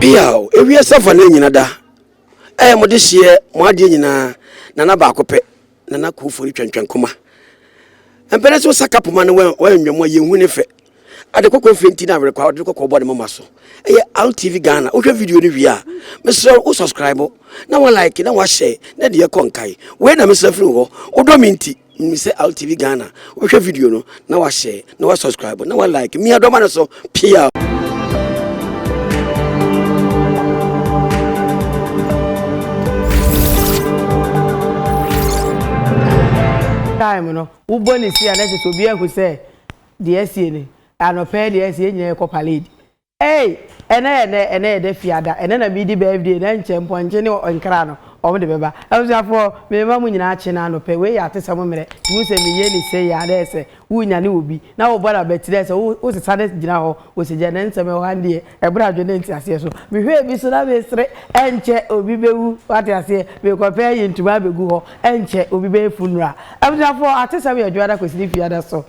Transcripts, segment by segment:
biaw ewie safa na nyina da ɛyɛ mo de hyeɛ mo adeɛ nyinaa nana baako pɛ nana kofori twɛntwɛn koma mpɛnɛ sɛ wosa kapoma no wɔanwam a yɛhu ne fɛ Ade kɔkɔɔ fɛ nti na awerekɔ a ɔde kɔkɔɔ bɔ ne moma so ɛyɛ Al TV Ghana. Wohwɛ video no wie a, mesrɛ wo subscribe na wa like na wa share na deɛ ɛkɔ nkae. Wei na mesrɛ firi wo hɔ. Wodɔ me nti nim sɛ Al TV Ghana wobɛhwɛ video no na wa share na wa subscribe na wa like. Mia dɔma no so pia. Time no wobɔ ne si a na ɛsɛ sɛ obi ahu sɛ Deɛ asie no anɔpa yi deɛ ɛsɛ yɛn nyinaa yɛkɔ parade ei ɛnɛ yɛ nɛ ɛnɛ yɛ dɛ fiada ɛnɛ na medi birthday na nkyɛ mpɔnkye ne nkra no wɔn de bɛba abusuafoɔ mema mo nyinaa kye na anɔpɛ wei yɛ atesɛm mmerɛ wohu sɛ meyɛ ni sei a dɛ sɛ wonya ne wɔ bi na wobɔ no abatiri sɛ wosesa no gyina hɔ wɔ sɛ gya na nsɛm ɛwɔ ha deɛ Ɛberɛ a dwene nte aseɛ so. Mehwɛɛ bi so na mesere, ɛnkyɛ obi bɛwu, wate aseɛ, mekɔpɛ ayi ntoma abɛgu hɔ, ɛnkyɛ obi bɛyɛ funeral. Abusuafoɔ, atesɛm yɛ dwoada kɔsini fiada so.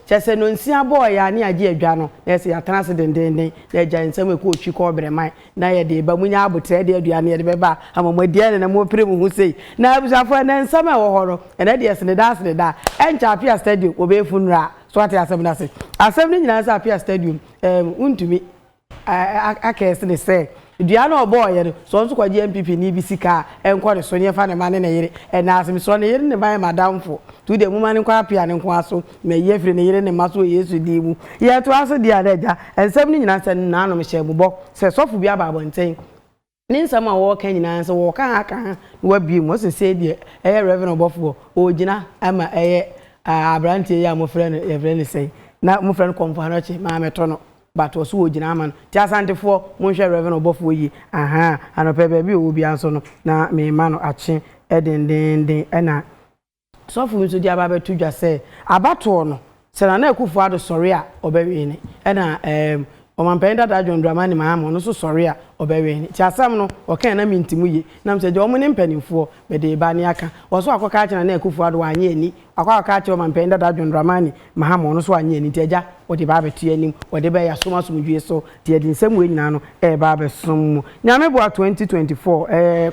Kyerɛ sɛ nonsia bɔɔ yɛn ane agye adwa no, na ɛsɛ yɛatena ase dendeenden na yɛagyae nsɛm a ɛkɔ otwi kɔɔ berɛman na yɛde reba. Monya aboterɛ de aduane yɛde bɛba ama mo adi, ɛne na morepere mo ho sei. Na abusuafoɔ, ɛnnɛ nsɛm a ɛwɔ hɔ no, ɛnnɛ deɛ sene daa sene daa, ɛnkyɛ Apia Stadium wɔbɛyɛ funeral. So wate asɛm no ase? Asɛm no nyinaa ne sɛ Apia Stadium ɛɛm wontumi akɛɛse ne sɛ dua no a ɔbɔɔeɛ no sɛ ɔno nso kɔgye NPP ni bi sika a ɛnkɔ ne so ne yɛmfa ne mma ne ne yere ɛnna ase mesrɛ ne yere ne mma yɛ m'adamfo nti wodeɛ momma no nkɔ apea ne nkoa so na ayi afiri ne yere ne mma so wɔ Yesu din mu yɛtoa so deɛ a na agya nsɛm no nyinaa sɛ naanom hyɛɛ mo bɔ sɛ sɔfo bi aba abɔnten Ne nsɛm a wɔɔka nyinaa sɛ wɔɔka ha ka ha na w'abue mu ɔse sei deɛ ɛyɛ Rev ɔbɔfoɔ ɔɔgyina ama ɛyɛ ah abranteɛ yi a mofrɛ no yɛfrɛ no sɛn na mofrɛ no Kɔmfo Anɔkye maa metɔ no but ɔse ɔɔgyina ama no nti Asantefoɔ monhwɛ Rev ɔbɔfoɔ yie ahaa anɔpɛ baabi ɔwɔ biaa nso no na meema no akye dendeenden ɛna Sɔfo bi nso de aba bɛto dwa sɛ abatoɔ no, sɛ Nana Akufo-Addo sɔre a ɔbɛwene, ɛna ɛɛm Ɔmanpanyin dada John Dramani Mahama ɔno nso sɔre a ɔbɛwene. Nti asɛm no ɔka yi na menti mu yie, nam sɛ gya wɔn ne mpaninfoɔ mede reba ne aka. Ɔso wakɔka akyerɛ Nana Akufo-Addo wannye anni, wakɔ akɔka akyerɛ Ɔmanpanyin dada John Dramani Mahama ɔno nso wannye anni, nti agya ɔde ba abɛto yɛn anim, ɔde ba yi yɛasom asomdwoe so, nti yɛde nsɛm wei nyinaa no reba abɛsom mo. Nyame boa 2024 ɛɛm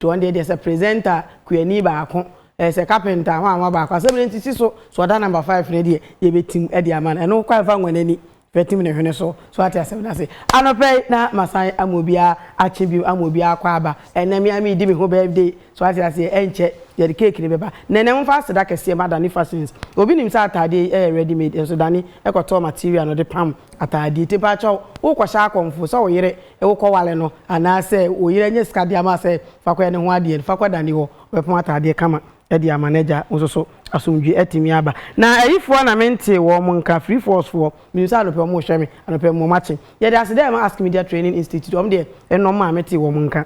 To wɔn deɛ deɛ sɛ presenter kuani baako ɛɛ sɛ carpenter ho anwa baako asɛm no nti si so so ɔda number five no deɛ yɛbɛtim ɛde ama no ɛno kwan fa nwa n'ani fa tim ne hwene so so wate asɛm no ase anɔpa yi na masan ama obiara akye bio ama obiara akɔ aba ɛnɛ me ara meredi me ho birthday so wate aseɛ ɛnkyɛ yɛde cake no bɛba nɛnɛ momfa aseda kɛseɛ ma dane fashions obi nim sɛ ataadeɛ yi ɛyɛ ready made nso dane ɛkɔtɔɔ material no de pam ataadeɛ ti mpaakyɛw wokɔhyɛ akɔmfo sɛ wo yere Wokɔware no anaa sɛ wo yere anya sika de ama sɛ fa kɔyɛ ne ho adeɛ no, fa kɔ Dani hɔ, ɔbɛpɔn ataadeɛ kama de ama no agya wo nso so. Asomdwoeɛ atumi aba. Na ayifoɔ na mentee wɔn nka, Free Falls foɔ, menim sɛ anɔpa mu wɔrehwɛ me, anɔpa mu wɔakye. Yɛde ase dɛ ma Ask Media Training Institute, wɔn deɛ ɛnnɔm a metee wɔn nka.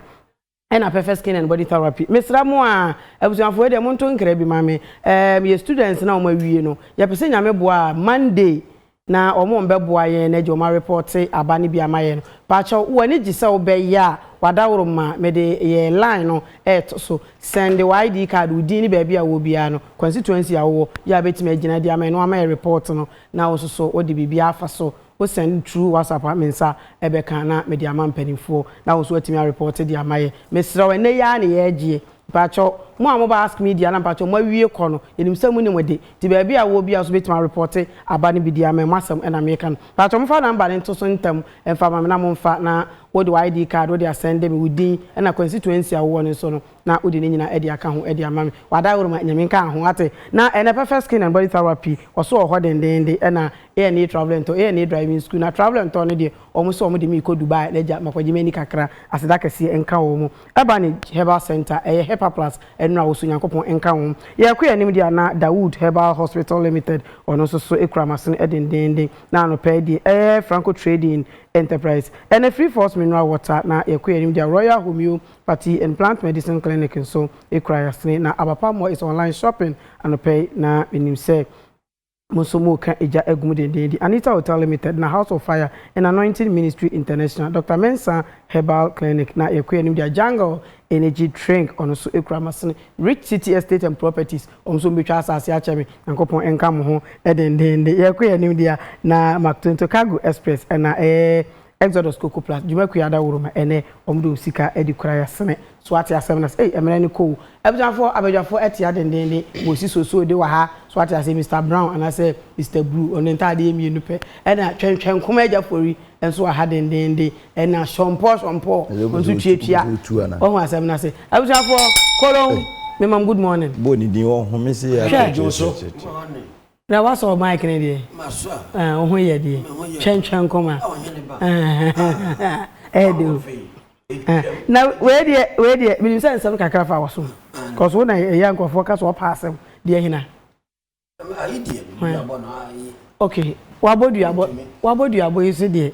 Ɛna pɛfɛ skin and body therapy mesra mo aa abusuafo wei deɛ monto nkra bi ma me ɛɛ meyɛ students na ɔmo awie no yɛpɛsɛ nyame boa a Monday na ɔmo ɔmbɛboa yɛn na gye ɔmo arepɔte aba no bi ama yɛn no pakyɛw wo ani gye sɛ wo bɛ yɛ a wadaworo ma mede yɛ line no ɛɛto so sɛnde wo ID card wo din ne baabi a wowɔ biara no constituency a wowɔ yɛ a bɛtumi agyina de ama yɛn na wama yɛ report no na wo nso so wode biribiara afa so Wo send through WhatsApp a me nsa bɛka na mede ama mpaninfoɔ na wo nso watumi a report de ama yɛ. Mesrɛ wo ɛnnɛ yi ara ne yɛregyeɛ. Mpakyɛw mo a mo ba ask me deɛ a na mpakyɛw mo awie kɔ no yɛnim sɛ mo nim ɛde nti baabi a woɔ biara nso bɛtumi a report aba no bi deɛ a mɛ mo asɛm na mereka no. Mpakyɛw momfa number no nto so ntɛm mfa ma me na momfa na wo de wo ID card wode asɛnde me wo din ɛna constituency a wowɔ no nso no na wode ne nyinaa ɛde aka ho ɛde ama me. W'adaworo ma Nyame nka ho wate. Na ɛnɛ pɛfɛ skin and body therapy wɔ so wɔ hɔ dendeende ɛna A&E travelling tour A&E driving school na travelling tour no deɛ wɔn sɛ wɔn de me rekɔ Dubai na gya makɔgye m'ani kakra aseda kɛseɛ nka wɔn Urbanage herbal centre ɛyɛ Hepa plus nnuro a wɔsɔ Nyankopɔn nka ho yɛrekɔ yɛn anim deɛ a na Dawood herbal hospital limited ɔno nso so kura m'asene dendeenden na anɔpa yi deɛ ɛyɛ Franco trading enterprise ɛne Free Force mineral water na yɛrekɔ yɛn anim deɛ a Royal Homeo pathy and plant medicine clinic nso kura yɛn asene na Aba Palm Oil is online shopping anɔpa yi na menim sɛ. Mo nso mo reka egya agu mu dendeenden. Anita Hotel Limited na House of Fire and Anointing Ministry International, Doctor Mensah Herbal Clinic na yɛkɔ yɛn anim deɛ Jungle Energy Drink ɔno nso kura masene, Rich City Estate and Properties ɔmo nso ɔmo bɛtwa asaase akyɛ me, Nyankopɔn nka mo ho dendeenden. Yɛkɔ yɛn anim deɛ na Mactonto Cargo Express ɛna ɛɛ Exodus koko plus dwuma kuo ada woro ma ɛnɛ ɔmo de osika adi kora yɛ sene so wate asem no ase ei ɛmene no kɔ o abusuafoɔ abadwafoɔ ɛtea dendenden mo si so so de wɔ ha so wate ase Mister Brown anasɛ Mister Bruu ɔno ne ntaadeɛ yɛ mmienu pɛ ɛna twɛn twɛn nkoma agya fori nso wɔ ha dendenden ɛna shɔmpɔɔ shɔmpɔɔ ɔno nso tua tua wahu asem no ase abusuafoɔ kolon me mam good morning. Bɔ ne din ɔhome se yɛ akyekyerekyere. Bra wasɔ mic no deɛ. Masɔ a. Ɛɛ wo ho yɛ deɛ. Me ho yɛ. Twɛntwɛn nkɔm a. A ɔhene ba. Ɛɛdɛ. Ɛɛdɛ o. Na wei deɛ wei deɛ menim sɛ nsɛm kakra fa wɔ so cause wo na ɛyɛ a nkurɔfoɔ ka sɛ wɔpɛ asɛm deɛ hena. Ayi deɛ duabɔ no ayi. Ok wabɔ duabɔ wabɔ duabɔ yi so deɛ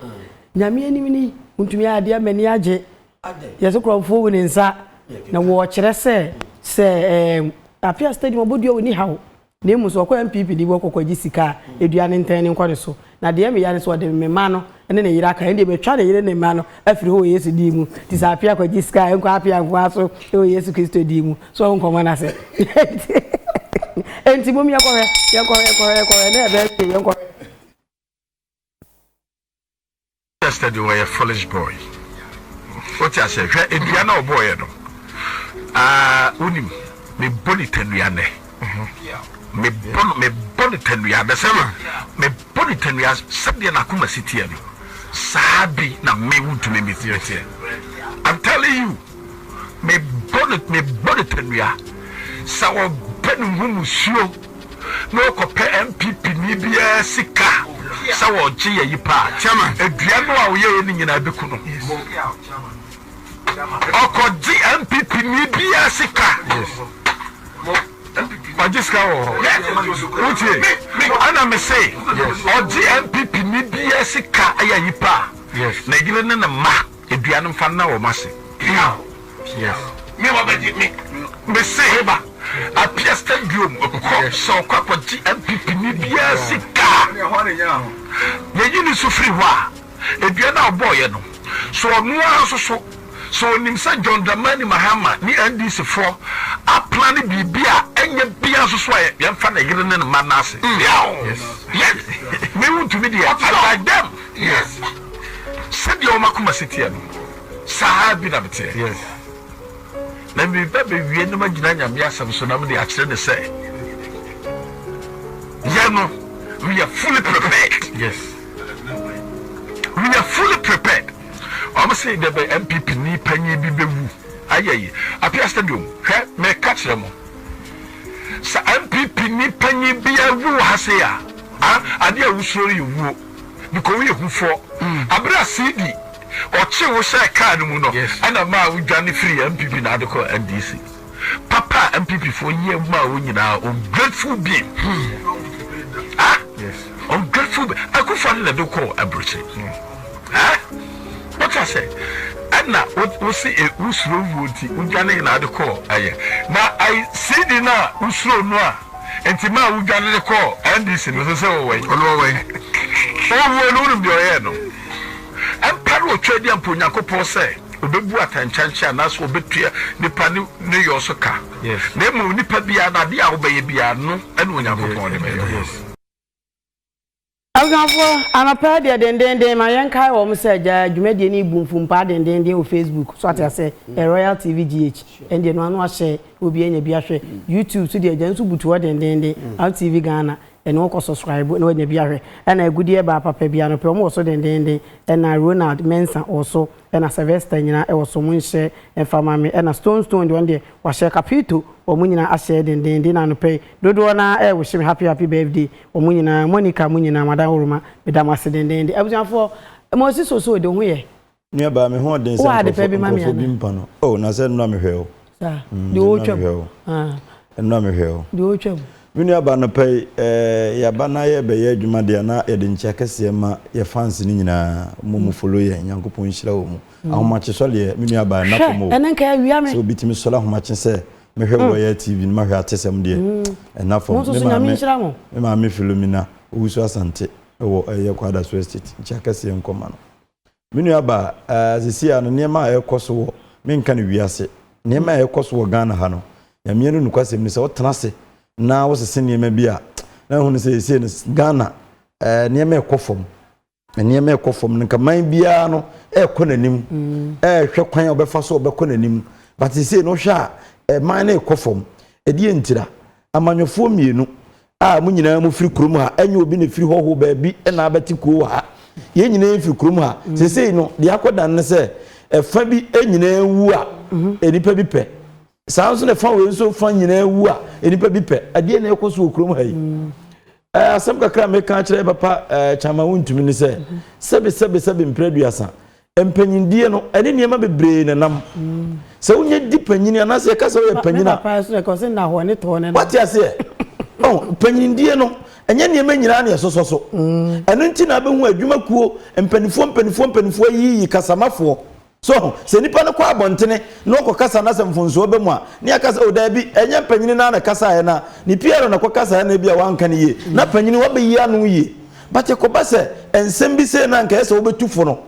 Nyame anim ni wontumi ayɛ adeɛ m'ani agye yɛ so kurɔfoɔ wu ne nsa na wɔɔkyerɛ sɛ sɛ ɛɛ Apia stadium ɔbɔ dua ɔni haw Na mmom sɛ ɔkɔ NPP ni bi hɔ kɔkɔgye sika a, edua ne ntɛn ne nkɔ ne so. Na deɛ meya ne sɛ ɔde me mma no ne ne yere aka, ɛndeɛ mɛtwa ne yere ne mma no afiri hɔ wɔ Yesu din mu. Nti sɛ apea kɔgye sika a, ɛnkɔ apea nko ara so wɔ Yesu Kristo din mu. So wahu nkɔmmɔ no ase? Enti mom yɛnkɔhwɛ, yɛnkɔhwɛ, yɛnkɔhwɛ, yɛnkɔhwɛ, ɛnnɛ yɛbɛyɛ hwee, yɛnkɔhwɛ. Chester de wɔyɛ foolish boy wote aseɛ hwɛ nnua na ɔbɔɔyɛ no wonim mebɔ ne tanua nnɛ mebɔ ne tanua bɛsɛ ma mebɔ ne tanua sɛdeɛ nakoma si teɛ no saa bi na me wontumi metiɛ teɛ I'm telling you Mebɔ no tanua. Sɛ ɔpɛ ne ho musuo na ɔkɔpɛ NPP ni biara sika sɛ ɔgye yɛ yi paa dua no a ɔyɛɛ ne nyinaa bɛku no. Ɔkɔgye NPP ni biara sika. Ɔgye sika wɔ hɔ. Wotie? Ɛna me se ɔgye NPP ni biara sika ɛyɛ yi paa. Na yere ne ne mma. Dua no mfa nna wɔn ase. Piaw! Piaw! Me ba bɛgye me. Me se he ba, apia stadium kɔ sɛ ɔkɔ akɔgye NPP ni biara sika. Yɛyi ne so firi hɔ a, dua no a ɔbɔɔeɛ no, so ɔno ara nso so, so ɔnim sɛ John Dramani Mahama ne NDC foɔ aplane biribi a ɛnyɛ biara nso so a yɛmfa ne yere ne ne mma nna ase. Piaw! Yɛn, me wontumi deɛ, I like them. Sɛdeɛ wo m'akoma si teɛ no, saa ara bi na meteɛ. Yes. Na mereba bɛwie na magyina Nyame asɛm so na mede akyerɛ no sɛ, yɛ no, we are fully prepared. Yes. We are fully prepared. Wɔn se dɛbɛ NPP ni panyin bi bɛwu. Ayɛ yi, Apia Stadium, hwɛ, meka kyerɛ mo. Sɛ NPP ni panyin bi awu wɔ ha sei a, ah, adeɛ a wosuro no yɛ wuo. Mikowie hu foɔ abere a CD ɔkye wo hyɛɛ car no mu no ɛna ɛmaa wo dwane firii NPP na ade kɔɔ NDC. Papa a NPP foɔ yɛ maa wo nyinaa ungrateful being ah ungrateful being Akufo Addo na ɛde wo kɔɔ aburokye ah wate aseɛ ɛna wo se wo suro wuo nti wo dwane na ade kɔɔ ɛyɛ na I CD no a wo suro no a Nti maa wo dwane de kɔɔ NDC no sɛ sɛ wɔ wɛn ɔno wɔ wɛn owuo no wonim deɛ ɔyɛɛ no mpa no ɔtwa adi ampa Onyankopɔn sɛ ɔbɛbu atankyankye anaasɛ ɔbɛtua nipa ne ne yɔ so ka na mmom nipa biara no adeɛ a wobɛyɛ biara no ɛna Onyankopɔn de bɛyɛ Abusuafoɔ, anɔpa yi deɛ dendeenden ma yɛnkae wɔn sɛ gyaa dwumadie no bu mfum paa dendeenden wɔ Facebook, so ate aseɛ, ɛ Royal TV GH, ɛne deɛ ɛno ano ahyɛ na obiara anya bi ahwɛ, YouTube so deɛ gyaa nso butu hɔ dendeenden, Royal TV Ghana, ɛno wokɔ subscribe na wanya bi ahwɛ, ɛna agudeɛ baa papa bi anɔpa yi wɔn wɔ so dendeenden, ɛna Ronald Mensah wɔ so. Ɛna Sylvester nyina wɔ so ɔmo nhyɛ mfa ma me ɛna Stone Stone deɛ ɔno deɛ wahyɛ Capito ɔmo nyina ahyɛ dendeenden na anɔpa yi dodoɔ no ara ɛɛwehye me happy happy birthday ɔmo nyina Monica mo nyina Madam Woroma meda mo ase dendeenden abusuafoɔ Moses Osoo de wo ho yɛ. Nuabaa, me ho ɔden sɛ nkurɔfo, nkurɔfo bi mpa no. Oh, na sɛ nnora mehwɛ wo. deɛ ɔretwam ɛno a mehwɛ o deɛ ɔretwam me nua ba no pɛ yi ɛɛ yaba na yɛ bɛyɛ adwuma deɛ na yɛde nkyia kɛseɛ ma yɛ fans no nyinaa mo mu folo yɛ nyankopɔn nhyira wɔ mu mm. ahomakye sɔ deɛ me nua ba ɛna fam o ɛne nka awia me sɛ obi tumi sɔre ahomakye sɛ mehwɛ mm. royal tv no mahwɛ atesɛm deɛ mm. ɛna fam me maame me maame filomina owusu asante ɛwɔ ɛyɛ kwada so estate nkyia kɛseɛ nkɔma no Me nua baa, eh, sesei a no nneɛma a ɛrekɔ so wɔ, me nka no wiase, nneɛma a ɛrekɔ so wɔ Ghana ha no, Nyame no nokwasɛm ni, sɛ wo tena ase na wo sese nneɛma bi a, na wahu no sɛ sesei no Ghana, eh, nneɛma ɛrekɔ fam, nneɛma ɛrekɔ fam, no nka man biara no ɛrekɔ n'anim, ɛrehwɛ kwan a ɔbɛfa so ɔbɛkɔ n'anim, but sesei no wohwɛ a, eh, man no ɛrekɔ fam, ɛdeɛ ntira? Amanyɔfoɔ mmienu, a mo nyinaa mo firi kurom ha ɛnyɛ obi na efiri hɔho baabi ɛna abɛte kuo wɔ ha yɛn nyinaa firi kurom ha mm. sesei no deɛ akɔ dan no sɛ ɛfa bi nyinaa wu a mhm. nipa bi pɛ saa nso na ɛfa wei nso fa nyinaa wu a nipa bi pɛ adeɛ na ɛkɔ so wɔ kurom ha yi mm. asɛm kakra meka kyerɛ papa kyama wo ntumi ne sɛ mhm. sɛbesɛbesɛbe mprɛ aduasa Mpanyindie no, ɛne nneɛma bebree na ɛnam. Sɛ wonya di panyin anaasɛ yɛka sɛ woyɛ panyin a. Wate aseɛ? Oh, mpanyindie no, ɛnyɛ nneɛma nyinaa na ɛsosɔ so. Mm. Ɛno nti na abɛhu adwumakuo mpanimfoɔ mpanimfoɔ mpanimfoɔ ayiyi kasamafoɔ. So sɛ nipa no kɔ abɔntene na ɔkɔ kasa na sɛ mfonsoɔ bɛ mu a, ne yɛaka sɛ odaabi oh, ɛnyɛ mpanyini no na kasaeɛ no a, ne PR na kɔ kasaeɛ no ebi a wanka no yie. Na mm. panyini wabɛyi ano yie. But ɛkɔba sɛ nsɛm bi sei na anka ɛyɛ sɛ wobɛtu fo no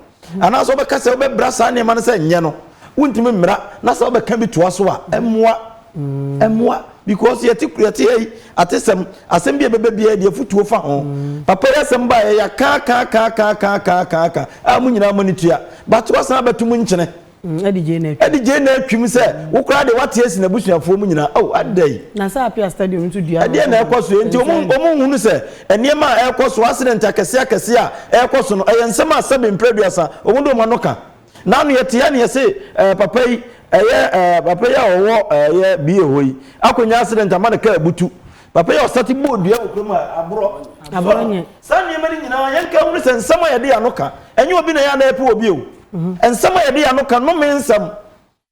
anaasɛ wobɛka sɛ wobɛbra saa nneɛma no sɛ nyɛ no wontumi mmra na sɛ wobɛka bi toa so a ɛmmoa ɛmmoa because yɛte yɛte ha yi atesɛm asɛm bi a ɛbɛba biara deɛ afotuo fa ho papa yi asɛm baeɛ yɛaka aka aka aka aka aka aka aka a mo nyinaa mo ani tua but wasan abɛto mu nkyene Mm, Adi gyee n'atwim. Adi gyee n'atwim sɛ wo koraa deɛ wate asi n'abusuafoɔ mu nyinaa. Oh, ada yi. Na sɛ Apia Stadium nso dua. Ɛdeɛ na ɛkɔ so enti wɔn wɔn nhunu sɛ nneɛma a ɛrekɔ so accident akɛseɛ akɛseɛ a ɛrekɔ so no ɛyɛ nsɛm a sɛbe mprɛduasa wɔn de wɔn ano ka. N'ano yɛte ya ne yɛse ɛɛ papa yi ɛyɛ ɛɛ papa yi a ɔwɔ ɛyɛ bie hɔ yi akɔnya accident ama ne kaa abutu. Papa yi a ɔsate bɔɔ dua wɔ kurom a aborɔ Aborɔ so no, nyɛ. saa nneɛma no nyinaa yɛnka nhunu sɛ nsɛm a yɛde yɛn ano ka, ɛnyɛ obi na ɛyɛ a na yɛpɛ wɔ bio. Nsɛm a yɛde yɛn ano ka, nnome nsɛm.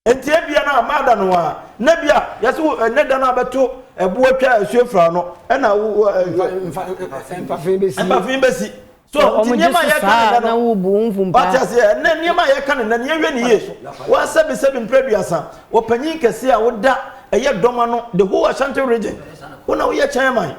Enti ebia na maada no a, na bi a yɛse wo ɛnnɛ da no a bɛto ɛboɔ atwa asuo afiri ano, ɛna wo, Mfa, mfa, mfa, mfa, mfa fee bɛsi. mfa fee bɛsi. So Sɛ wɔn nti gye nneɛma a so yɛka no saa nnɛ no, na wobu wo mfu mpaa? wate aseɛ? Ɛnnɛ nneɛma a yɛka no nnɛ no, yɛnhwɛ ne yie. Woasɛbesɛbe mprɛduasa, ɔpanyin kɛseɛ a woda ɛyɛ dɔm ano, the whole Ashanti region, wo na woyɛ chairman.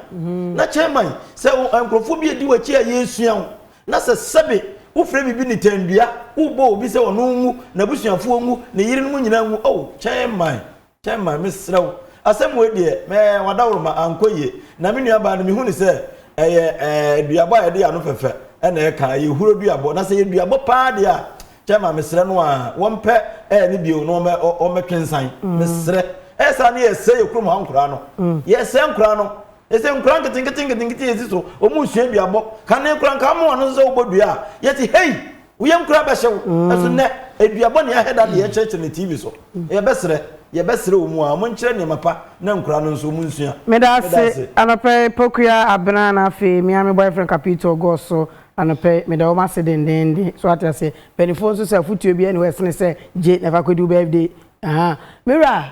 Na chairman, sɛ wo- nkurɔfoɔ bi adi w'akyi a yɛsua wo, na sɛ sɛbe wofrɛ biribi nitandua, wobɔ obi sɛ ɔno nwu, n'abusuafoɔ nwu, ne yerenom nyinaa nwu, oh, chairman. Thelma, mesrɛ wo, asɛm wei deɛ, mɛ, w'adaworoma ankɔ yie. Na me nuabaa no, mehu no sɛ ɛyɛ, ɛɛ, duabɔ a yɛde yɛ ano fɛfɛ na ɛka, ɛyɛ huro duabɔ. Na sɛ ɛyɛ duabɔ pa ara deɛ a, Thelma, mesrɛ no ara, wɔmpɛ, ɛɛ, no bio na wɔmmɛ, ɔ, wɔmmɛtwe nsan. Mesrɛ. Ɛyɛ saa na yɛresɛe yɛn kurom ha nkoraa no. Yɛresɛe nkoraa no. Ɛsɛ nkoraa nketenkete nketenkete yɛsi so. Wɔnsua duabɔ. Kane koraa, nka woma wɔn ho so sɛ wobɔ dua a, yɛte, hei! Wo yam koraa bɛhyɛ wo. Nanso nnɛ, dua bɔne ahɛda na yɛrekyerɛkyerɛ no TV so. Yɛbɛsrɛ, yɛbɛsrɛ wɔn a wɔnkyerɛ nneɛma pa na nkuraa no nso wɔnsua. Meda ase anɔpa yi Pokuya Abena na afei me ara me boyfriend Capito Goss so anɔpa yi. Meda wɔn ase dendeenden. So ate aseɛ? Mpaninfoɔ nso sɛ afotuo biara nni hɔ a ɛsene sɛ gye na fa kɔdi wo birthday. Ahaa. Me wura,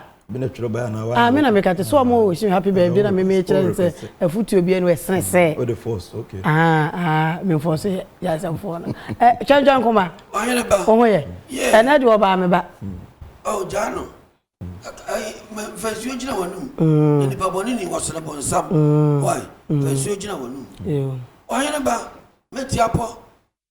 Ah me na meka te sɛ ɔmo wish me happy birthday na me me kyerɛ ne sɛ afutuo bi ɛnu ɛsene sɛ ah ah me nfɔɔso yɛ yɛ asɛmfoɔ no ɛ twɛntwɛn koma wo ho yɛ ɛnɛ deɛ ɔbaa me ba. Oh gyaa no fa nsuo gyina w'anum na nipa bɔne ni wɔsene bɔnsam why fa nsuo gyina w'anum ɔhene ba mɛti apɔ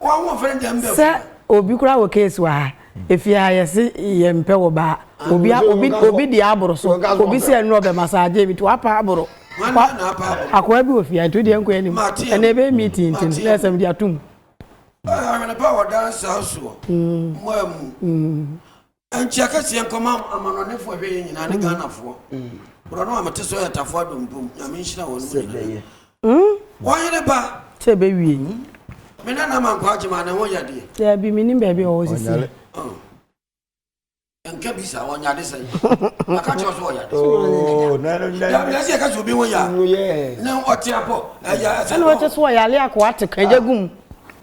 Sɛ obi koraa wɔ case wɔ ha, efie ha yɛse yɛn mpɛ wɔ baa, obi a obi obi deɛ aboro so, obi sɛ ɛnuro ɔbɛ massage bi to apa aboro, wa akoa bi wɔ fie ha nti odeɛ nkɔ anim, ɛnna ebe yɛ meeting nti no na ɛsɛm de atum. Awɛnepa wɔ dansa soɔ, mmaa mu. Nkyia kɛseɛ nkɔma amanɔnefoɔ hwɛ yɛ nyinaa ne Ghanafoɔ. Borɔno a mete so yɛ Tafoa Dompom. Nyame nhyira wɔn mu nyinaa. Wɔyere ba. Sɛ ɛbɛwie yi. Me nana ma nkɔ agyema ne ho yɛ deɛ. Daabi menim baabi a ɔwɔ sisi. Nka bi sa ɔnyade sɛ. Aka kyerɛ so ɔyade. Oh, na na na. Daabi ɛsɛ ɛka so obi ho yɛ. Ne ɔte apɔ. Ɛyɛ ɛsɛ. Ɛna ɔte so ɔyale akɔ ate kan gya gum.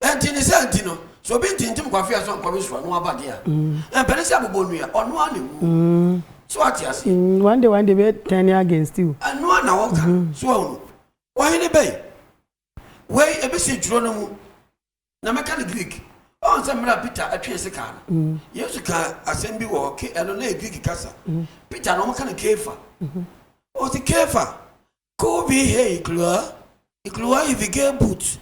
Ɛnti ne saa nti no, sɛ obi ntintim Kwafia nso nkɔwe so a, na waba deɛ a, ɛmpɛ ne sɛ abobɔ nnua, ɔno ara na ɛwuo. So wate aseɛ? Mm, one day one day bɛ turn against you. Ɛno ara na wɔka, so wahu. Ɔhene bɛn? Wei ɛbɛsi twerɛ no mu, na mɛka no Greek. Ɔhu sɛ mmerɛ a Peter ɛtwee se kaa no, Yesu kaa asɛm bi wɔ hɔ, ke ɛno na yɛ Greek kasa. Peter na wɔka no Kefa. Ɔse Kefa, Koo bi he ikuruwa, ikuruwa he fi kee boot,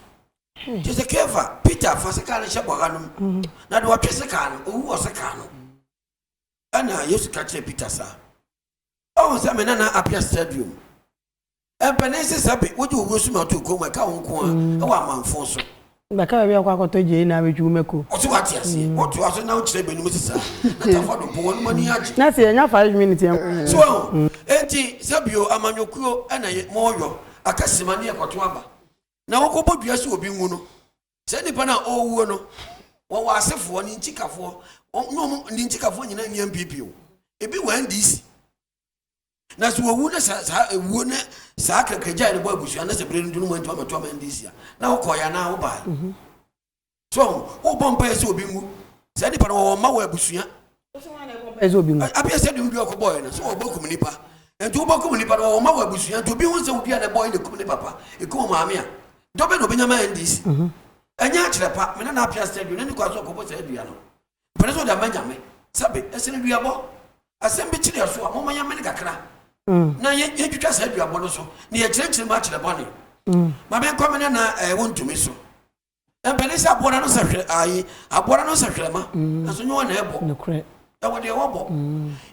te se Keefa, Peter, fa sekaa no hyɛ bɔha no mu, na deɛ ɔtwe sekaa no, owu wɔ sekaa no. Ɛna Yesu ka kyerɛɛ Peter saa. Ɔhu sɛ me nana Appiah Stadium, mpanin sesɛbe, wogye owuo so ma ɔtoo koom, ɛka wo nko ara wɔ amanfoo so. Bɛka baabi a ɔkɔ akɔtɔ gyae na abɛtwi wo mako. Ɔse wate aseɛ, wotoa so na wokyerɛ bɛnum sesa a, Atamfo adom po, wɔnom ani agye. Na se yɛnya five minutes a. So wahu? Enti sɛ bio, amanyɔkuo na yɛ, moyɔ, aka sima ne ɛkɔto aba. Na wokɔ bɔ dua sɛ obi nwu no, saa nipa no a ɔrewuo no, wɔwɔ asefoɔ, ne ntikafoɔ, wɔn, ne wɔn, ne ntikafoɔ nyinaa nni MPP o, ebi wɔ NDC. na sɛ wɔwu no sɛ saa ewuo ne saa kakragyae no bɔ abusua no sɛ berɛ no dunu mu antumi amɛto ama ndc a na wokɔeɛ anaa wobaeɛ mhm. so wobɔ mpaeɛ sɛ obi nwu saa nipa no wɔwɔ mma wɔ abusua abia sɛ de wodi ɔkɔbɔeɛ no sɛ wɔbɛkum nipa nti wobɛkum nipa no wɔwɔ mma wɔ abusua nti obi hu sɛ wodua na ɛbɔe na ɛkum ne papa ɛkum maame a dɔbɛ na obɛnya ma ndc mhm. ɛnyɛ akyerɛ pa mene na apea sɛ aduane ne kɔ aso ɔkɔbɔ saa adua no Mpɛn sɛ ɔde ama Nyame. Sɛbe, ɛsɛ no duabɔ. Asɛm bi kyere yɛ so a, momma yɛmmene kakra na yɛntwitwa saa duabɔ no so na yɛkyerɛkyerɛ mu akyerɛ bɔne. Ma menkɔ me nana ɛɛ wontumi so. Mpɛn sɛ aboa no sɛ hwɛ ayi aboa no sɛ hwɛma. Ɛso nyɛ wɔn na ɛbɔ. Ɛwɔ deɛ wɔbɔ.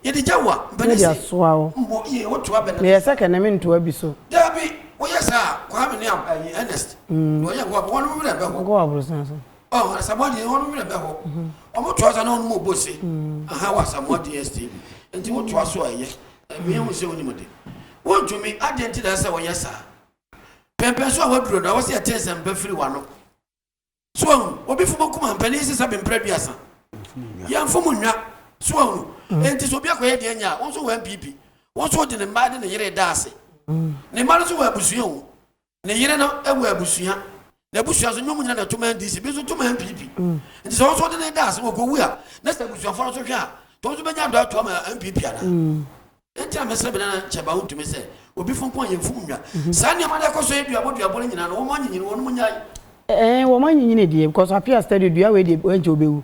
Yɛde gya wa mpɛn sɛ mbɔ yie woto abɛn. Meyɛ sɛ kɛnɛ mentoa bi so. Dabi, woyɛ saa a, Kwame ne ɛɛ Ernest na ɔyɛ wo a, wɔn werɛ bɛho. Oh Asamoah deɛ wɔn werɛ bɛhɔ. Wɔn to asa na wɔn mu bose. Aha wɔ Asamoah DSTV. Nti wo to aso a ɛyɛ. Ɛmi ehu sɛ wonim de. Wontumi adeɛ nti na ɛsɛ wɔyɛ saa. Pɛmpɛn so a waduro no ɛwɔ sɛ yɛte nsɛm pa firi wano. So ahu obi fo mo kuma mpanin sisa bi mpere aduasa. Yɛn fo mo nwa. So ahu. Nti so obi akɔyɛ deɛ nya a wɔn so wɔ MPP. Wɔn so de ne mmaa de ne yere da ase. Ne mma no so wɔ abusua o. Ne yere no wɔ abusua. N'abusua nso, nyɛ wɔn nyinaa na ɛto ma NDC, ebi nso to ma NPP. Nti sɛ wɔn nso wɔde ne da ase ma ɔkɔwu a, na sɛ abusuafoɔ no nso hwɛ a, nti wɔn nso bɛnya adɔ ato ama NPP anaa? Nti na mesrɛ me nana Kyɛba wontumi sɛ obi fo nko a yɛmfom nnwa. Saa nneɛma no ɛkɔ so yɛ duabɔ duabɔ no nyinaa no, wɔn anyinyini wɔn nyae. Ɛɛ wɔn anyinyini deɛ because appear steady dua wei deɛ ɛnkyɛ ɔbɛwu.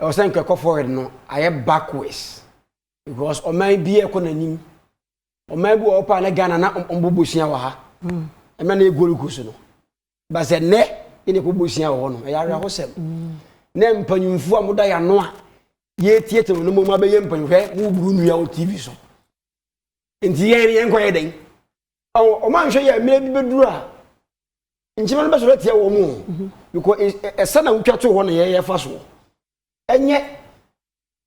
Ɛwɔ sɛ nka ɛkɔ forward no ayɛ backwards because ɔman bi ɛkɔ n'anim ɔman bi wɔ hɔ paa na Ghana na wɔn bɔ bosia wɔ ha mm. ɛmɛ na egori gu so no basɛ nnɛ yɛ na ɛkɔ bosia wɔ hɔ no ɛyɛ awerɛhosɛm mm. na mpanyinfo a wɔda yɛ ano a yɛtietie wɔn mu abɛyɛ mpanyinfo yɛ wɔn buru nnua wɔ tv so nti yɛn yɛn kɔ yɛ dɛn wɔn anhwɛ yɛ mmerɛ bi bɛduru a nkyima no bɛsɔrɔ atia wɔn mu mhm. because ɛsɛ na wotwa to hɔ na yɛyɛ fa soɔ ɛnyɛ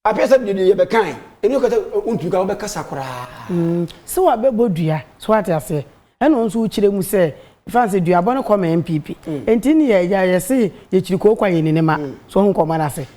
apɛ sɛ deɛ yɛ bɛkan ɛni kata wontumi ka wobɛkasa koraa mm. sɛ wabɛbɔ dua so wate aseɛ ɛna ɔnso wokyerɛ mu sɛ fan sɛ duabɔ no kɔ ma npp mm. ɛnti ne yɛ yɛse yɛkyiri kookwa yɛ ne ne ma mm. so ɔho nkɔmmɔ no ase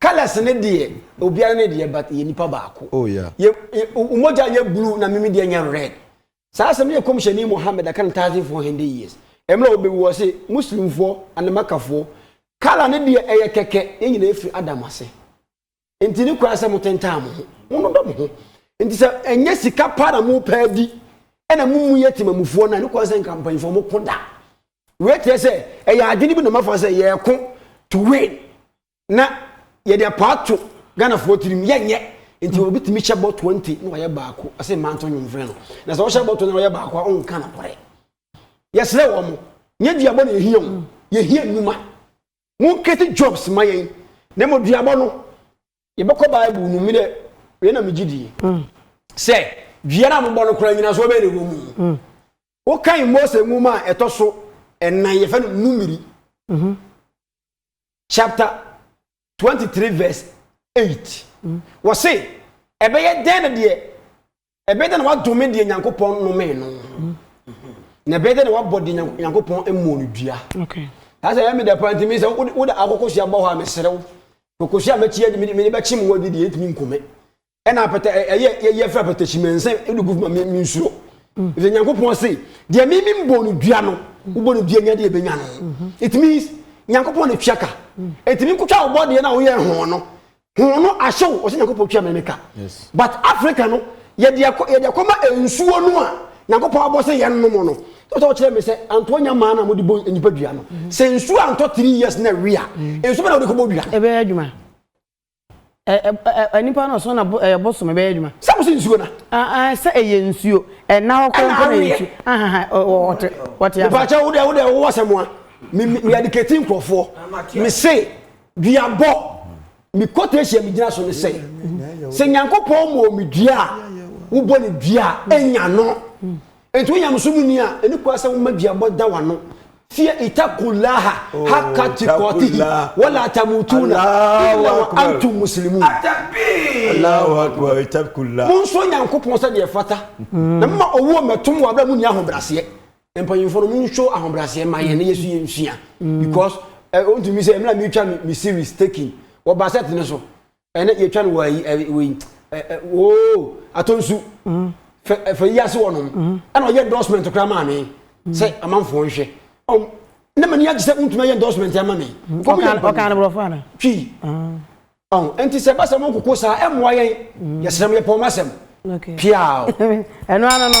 Colours no deɛ obiara ne deɛ but yɛ nipa baako. Oh yeah. Yɛ omogya yɛ blue na mimi deɛ nyɛ red. Saa asɛm no yɛ kɔmhyɛni Muhammad aka no thousand four hundred years. Ɛmmerɛ ɔbɛwu ɔse Muslimfoɔ and Makafoɔ colour no deɛ ɛyɛ kɛkɛ yɛn nyinaa efiri Adam ase. Nti ne koraa sɛ motentaa mo ho. Monodɔ mo ho. Nti sɛ ɛnyɛ sika paa na mopɛ adi ɛna mo mu yɛ temamufoɔ no a ne koraa sɛ nka mpanyinfoɔ moko da. Wei kyerɛ sɛ ɛyɛ adwene bi na moafa sɛ yɛko to win. na yɛde apɔ ato ghanafoɔ tirim yɛnyɛ nti obi tumi hyɛ bɔ 20 na ɔyɛ baako ɛsɛ mmaa nto nwom frɛ no na sɛ ɔhyɛ bɔ 20 na ɔyɛ baako a ɔnka nokorɛ yɛsrɛ wɔ mo nyɛ duabɔ na yɛhia wo yɛhia nnwuma monkɛte jobs ma yɛn na mmɔ duabɔ no yɛbɛkɔ bible no mu dɛ wei na megye die mm. sɛ dua no a mobɔ no koraa nyina so wobɛyɛ ne wɔ mu mm. wokan mose nwoma a ɛtɔ so ɛnan yɛfɛ no numeri mm-hmm. chapter twenty three verse eight mm. wɔ se ɛbɛyɛ dɛn na deɛ ɛbɛyɛ dɛn na wadome deɛ nyankopɔn nnome no mm. na ɛbɛyɛ dɛn na wabɔ deɛ nyankopɔn mmɔ no dua saa sɛ ɛmi dɛ paa ntumi sɛ wode akokosua bɔ hɔ a meserew kokosua mɛkyi adi mede bɛkye mu adi deɛ ɛntumi nkome ɛna apɛtɛ ɛyɛ yɛ yɛfrɛ apɛtɛ hyimɛnsɛn ɛna gu ma mi nsuro ɛfɛ nyankopɔn se deɛ mi mi bɔ no dua no wobɔ no dua nya deɛ ɛbɛnya no it means nyankopɔn na tua ka ɛtumi nkotwa wobɔ deɛ no a woyɛ ho no ho no ahyew ɔsɛ nyankopɔn tua mene ka but africa no yɛde akɔ yɛde akɔma nsuo no a nyankopɔn abɔ sɛ yɛn nom no tɔtɔ kyerɛ mi sɛ antoɔ nya maa na mo de bɔ nipa dua no sɛ nsuo antɔ three years na wia nsuo bɛ na wɔde kɔ bɔ dua no ɛbɛyɛ adwuma Ɛ ɛ ɛ ɛ nipa no so na bo ɛyɛ bosom ɛbɛyɛ adwuma. Sɛ mo sɛ nsuo na. Aa aa sɛ ɛyɛ nsuo ɛna hɔ kora mpo na ɛyɛ nsuo ahaha ɔ ɔ ɔte ɔte ase. Mepa kyɛw wo dɛ wo dɛ wowɔ asɛm a me me me adikati nkorɔfoɔ me se duabɔ me kɔtɛsi a me gyina so ne sɛ sɛ Nyankopɔn ma omi dua a wo bɔ ne dua a nya no Enti wo nyamesom nni a ɛne kura sɛ woma duabɔ da w'ano tie itakullaha haka tikɔtihi wala tamutuna illa wa antum muslimun Allahu akbar itakullaha monsuro nyankopɔn sɛ deɛ fata mm. na moma owuo mmɛtom wɔ aberɛ mu nni ahobraseɛ mpanyimfoɔ no monso ahobraseɛ ma yɛn na yɛsu yɛ nsua mm. because ɔntumi eh, sɛ mmerɛ metwa me series taking wɔ basɛt no so ɛnɛ yɛtwa no wɔ ayi wei oo atɔnsu mm. fɛ yi ase wɔ nom mm. ɛna ɔyɛ endorsement koraa maa me mm. sɛ amanfoɔ nhwɛ ne ma ni agye sɛ wontumi ayɛ endorsement ama me ɔkaa no borɔfo ana twi nti sɛ ɛba sɛ mo nkoko saa ɛmmoa yɛn yɛsrɛ m yɛpɔn masɛm piaa ɛno ano no